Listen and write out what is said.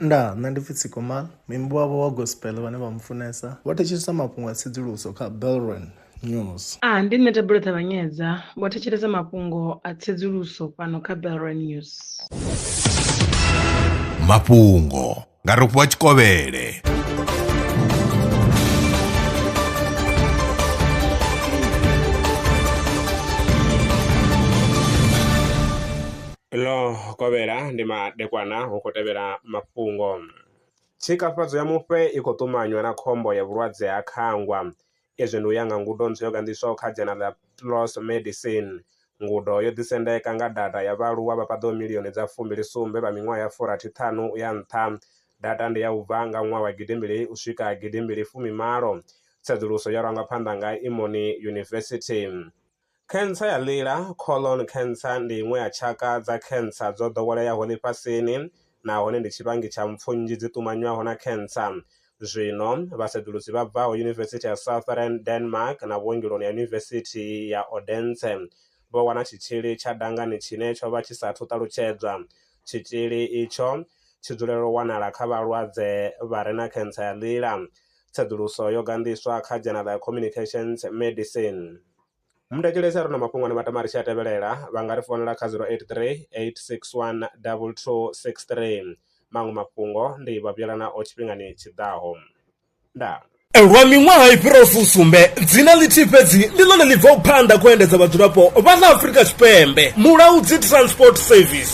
Nda, nṋe ndi pfi Tsikoma, muimbi wavho wa gospel vhane vha mu funesa vho thetshelesa mafhungo a tsedzuluso kha Belron News. A, ndi nṋe Thabelo Ṱavhanyedza, vho thetshelesa mafhungo a tsedzuluso fhano kha Belron News. Mafhungo nga Rofhiwa Tshikovhele. Ḽo kovhela ndi madekwana hu khou tevhela mafhungo. Tshikafhadzo ya mufhe i khou ṱumanywa na khombo ya vhulwadze ha khangwa. Izwi ndi u ya nga ngudo ntswa yo ganḓiswaho kha dzhena ḽa PLOS Medicine. Ngudo yo ḓisendeka nga data ya vhaaluwa vha paḓaho milioni dza fumbili sumbe vha miṅwaha ya furathi ṱhanu u ya nṱha. Data ndi ya u bva nga ṅwaha wa gidi mbili u swika gidi mbili fumi malo. Tsedzuluso yo rangwa phanḓa nga Imoni University. Khentsa ya ḽila, colon cancer, ndi iṅwe ya tshaka dza khentsa dzo ḓoweleaho ḽifhasini nahone ndi tshivhangi tsha mpfu nnzhi dzi ṱumanywaho na khentsa. Zwino, vhasedzulusi vha bvaho Yunivesithi ya Southern Denmark na vhuongeloni ha Yunivesithi ya Odense vho wana tshitzhili tsha dangani tshine tsho vha tshi sa athu ṱalutshedzwa. Tshitzhili itsho tshi dzulela u wanala kha vhalwadze vha re na khentsa ya ḽila. Tsedzuluso yo ganḓiswa kha dzhena ḽa Communications Medicine. Mundekhelesi a re na mafhungo ane Matamarishi a tevhelela, vha nga ri founela kha 083 861 2263. Maṅwe mafhungo ndi vhavhuyela nao tshifhingani tshi ḓaho. Ndaa. Lwa miṅwaha i fhiraho fusumbe, dzina ḽithihi fhedzi ndi ḽone ḽi bvaho phanḓa khou endedza vhadzulapo vha ḽa Afrika Tshipembe, Mulaudzi Transport Service.